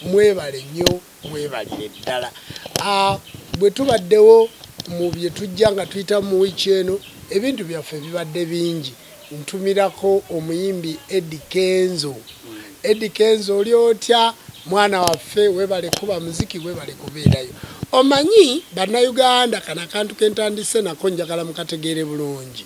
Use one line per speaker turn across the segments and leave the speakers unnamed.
Mwebale nnyo mwebalire ddala. Ah, bwe tubaddewo mu bye tujja nga tuyita mu wiiki eno, ebintu byaffe bibadde bingi. Ntumirako omuyimbi Eddie Kenzo. Eddie Kenzo oli otya mwana waffe? Webale kuba muziki, webale kubeerayo. Omanyi bannayuganda, kano akantu ke ntandise nako njagala mukategeere bulungi.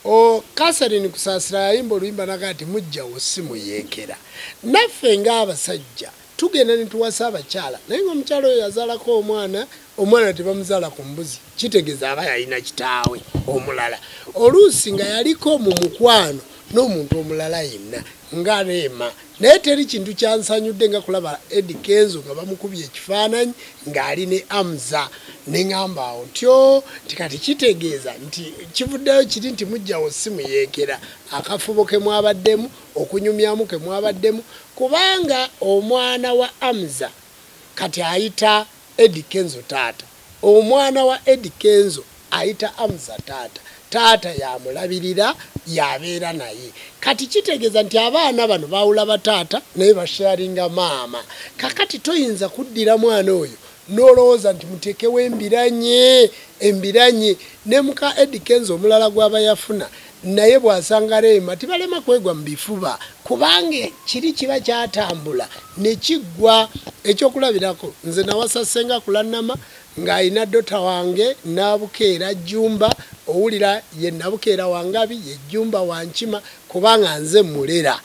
O, Catherine Kusaasira yayimba oluyimba n'agamba nti, Muggya wo si muyeekera. Naffe nga abasajja, tugenda ne tuwasa abakyala, naye nga omukyala oyo yazaalako omwana, omwana tebamuzaala ku mbuzi, kitegeeza aba yalina kitaawe omulala, oluusi nga yaliko mu mukwano n'omuntu omulala yenna, nga Rema. Naye teri kintu kyansanyudde nga kulaba Eddy Kenzo nga bamukubye ekifaananyi ng'ali ne Amza ne ngamba awo ntyoo nti kati kitegeeza nti kivuddeyo kiri nti mujjawo si muyeekera akafubo ke mwabaddemu okunyumyamu ke mwabaddemu kubanga omwana wa Amza kati ayita Eddy kenzo taata omwana wa Eddy kenzo ayita amza taata taata yamulabirira yabeera naye kati kitegeza nti abaana bano bawula ba taata naye ba sharinga maama kakati toyinza kuddira mwana oyo nolowoza nti mutekewo embiranye embiranye ne muka Eddy kenzo omulala gwaba yafuna naye bw'asanga Rema tibalema kwegwa mu bifuba kubanga ekiri kiba kyatambula ne kiggwa. Ekyokulabirako nze nawasa ssenga Kulannama ng'alina dota wange Nabukeera Jjumba owulira ye Nabukeera wa Ngabi ye Jjumba wa Nkima kubanga nze mmulera.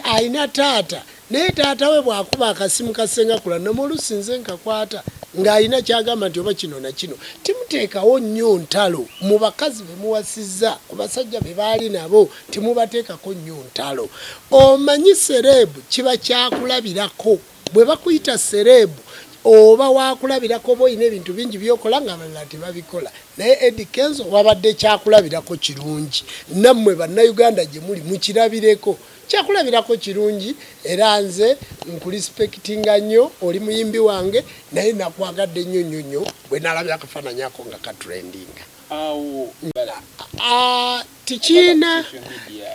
Alina taata Naye taata we bw'akuba akasimu ka ssenga Kulanama oluusi nze nkakwata ng'alina ky'agamba nti oba kino na kino. Timuteekawo nnyo ntalo mu bakazi be muwasizza, ku basajja be baali nabo temubateekako nnyo ntalo. Omanyi sereebu kiba kyakulabirako. Bwe bakuyita sereebu oba waakulabirako oba olina ebintu bingi by'okola ng'abalala tebabikola. Naye Eddy Kenzo wabadde kyakulabirako kirungi. Nammwe Bannayuganda gye muli mukirabireko. Kyakulabirako kirungi era nze nkulispectinga nnyo oli muyimbi wange naye nakwagadde nnyo nnyo nnyo bwe nalabye akafaananyi ako nga katrendinga tikiina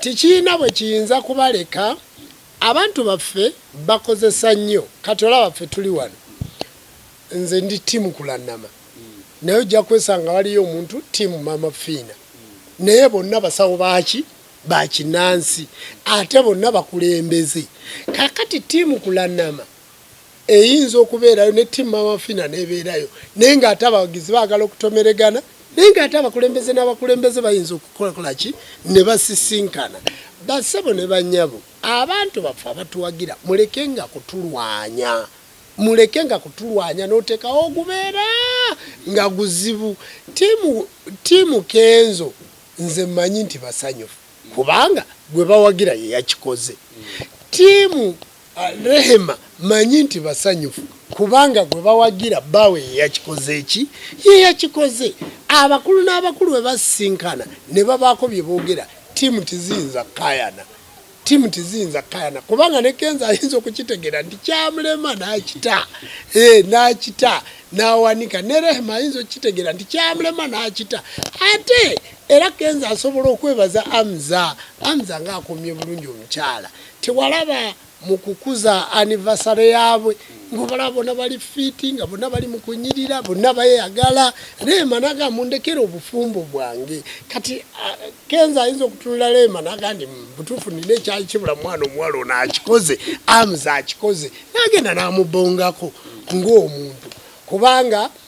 tikiina bwe kiyinza kubaleka abantu baffe bakozesa nnyo kati olaba ffe tuli wano nze ndi tiimu kulannama naye ojja kwesanga waliyo omuntu tiimu mama fiina naye bonna basawo baaki bakinansi ate bonna bakulembeze kakati tiimu kulanama eyinza okubeerayo ne tiimu mamafina nebeerayo naye nga ate abawagizi baagala okutomeregana naye nga ate abakulembeze n'abakulembeze bayinza okukolakola ki ne basisinkana basebo ne banyabo abantu baffe abatuwagira muleke nga kutulwanya muleke nga kutulwanya n'oteekawo ogubeera nga guzibu tiimu kenzo Nze mmanyi nti basanyufu kubanga gwe bawagira ye yakikoze. Ttiimu Rehema mmanyi nti basanyufu kubanga gwe bawagira bbaawe ye yakikoze ki? Ye yakikoze. Abakulu n'abakulu bwe basisinkana ne babaako bye boogera ttiimu tiziyinza kukaayana Team tizinza kayana kubanga ne kenza ayinza okukitegera nti kyamulema nakita eh nakita nawanika ne rehema ayinza okukitegera nti kyamulema nakita ate era kenza asobola okwebaza amza amza nga akomye bulungi omukyala tewalaba mu kukuza anniversary yaabwe ngobalaba bona bali fiti nga bona bali mukunyirira bona bayagala rema naga mundekere obufumbo bwange kati uh, kenza ayinza okutunula rema naga ndi butuufu nina ekyali kibula mwana omuwala ono akikoze amuza akikoze nagenda namubongako ngaomuntu kubanga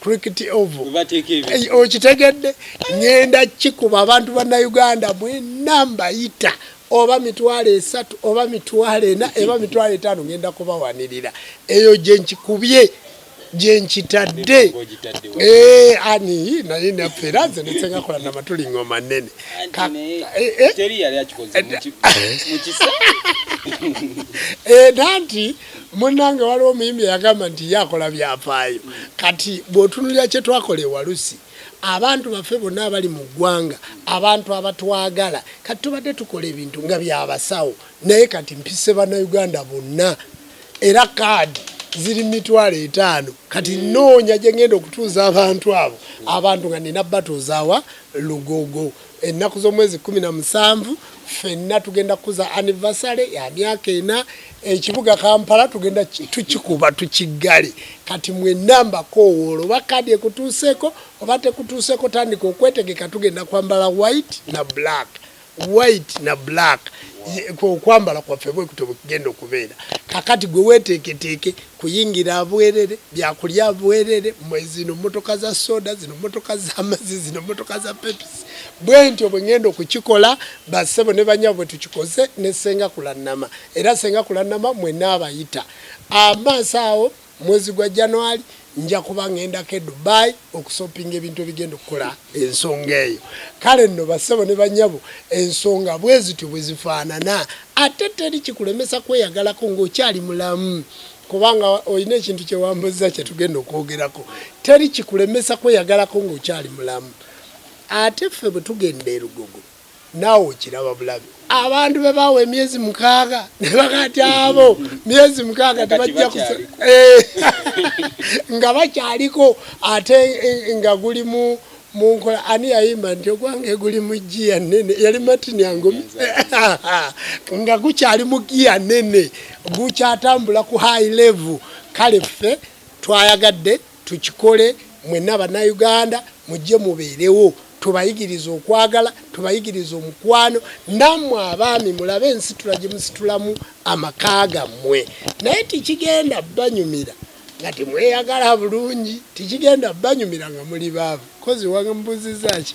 cricket oval okitegedde ngenda kikuba abantu bannayuganda mwena mbayita oba mitwalo esatu oba mitwalo ena eba mitwalo etaano ngenda kubawanirira eyo gyenkikubye gyenkitadde eh, ani naye naffe era nze nesengakola namatuli ngoma nene nanti Munnange waliwo omuyimbi eyagamba nti ye akola byafaayo. Kati bw'otunulira kye twakola e Walusi, abantu baffe bonna abali mu ggwanga, abantu abatwagala, kati tubadde tukola ebintu nga bya basawo naye kati mpise Bannayuganda bonna era kaadi ziri mitwalo etaano kati nnoonya gye ngenda okutuuza abantu abo abantu nga nina batuuzawa lugogo ennaku z'omwezi kkumi na musanvu ffenna tugenda kukuza anivasale ya myaka ena ekibuga kampala tugenda tukikuba tukiggale kati mwenna mbakoowoola oba kaadi ekutuuseeko oba tekutuuseeko tandika okwetegeka tugenda kwambala white na black white na black okwambala kwaffe bwekutyo bwekugenda okubeera kakati gwe weteeketeeke kuyingira bwerere, byakulya bwerere, mwe zino motoka za soda, zino motoka za mazi, zino motoka za pepsi. Bwentyo bwe ngenda okukikola basebo ne banyabo bwe tukikoze ne senga kulannama. Era senga kulannama mwe naabayita. Amaaso awo mwezi gwa January nja kuba ngendako e Dubai. okusopinga ebintu ebigenda okukola ensonga eyo kale nno bassebo ne banyabo ensonga bwezityo bwezifaanana ate teri kikulemesa kweyagalako ngaokyali mulamu kubanga olina ekintu kyewambuzza kyetugenda okwogerako teri kikulemesa kweyagalako ngaokyali mulamu ate ffe bwetugenda erugogo naawe okiraba bulabi abantu be baawa emyezi mukaaga ne bakati abo myezi mukaaga tebajja eh, nga bakyaliko ate eh, nga guli mu munkola ani yayimba nti ogwange guli mu giya nene yali matini angumi nga gukyali mu giya nene gukyatambula ku high level kale ffe twayagadde Tukikole mwenna Bannayuganda mujje mubeerewo tubayigirize okwagala tubayigirize omukwano nammwe abaami mulabe ensitula gye musitulamu amaka gammwe naye tikigenda banyumira nga temweyagala bulungi tikigenda banyumira nga muli baavu kozi wambuziza ki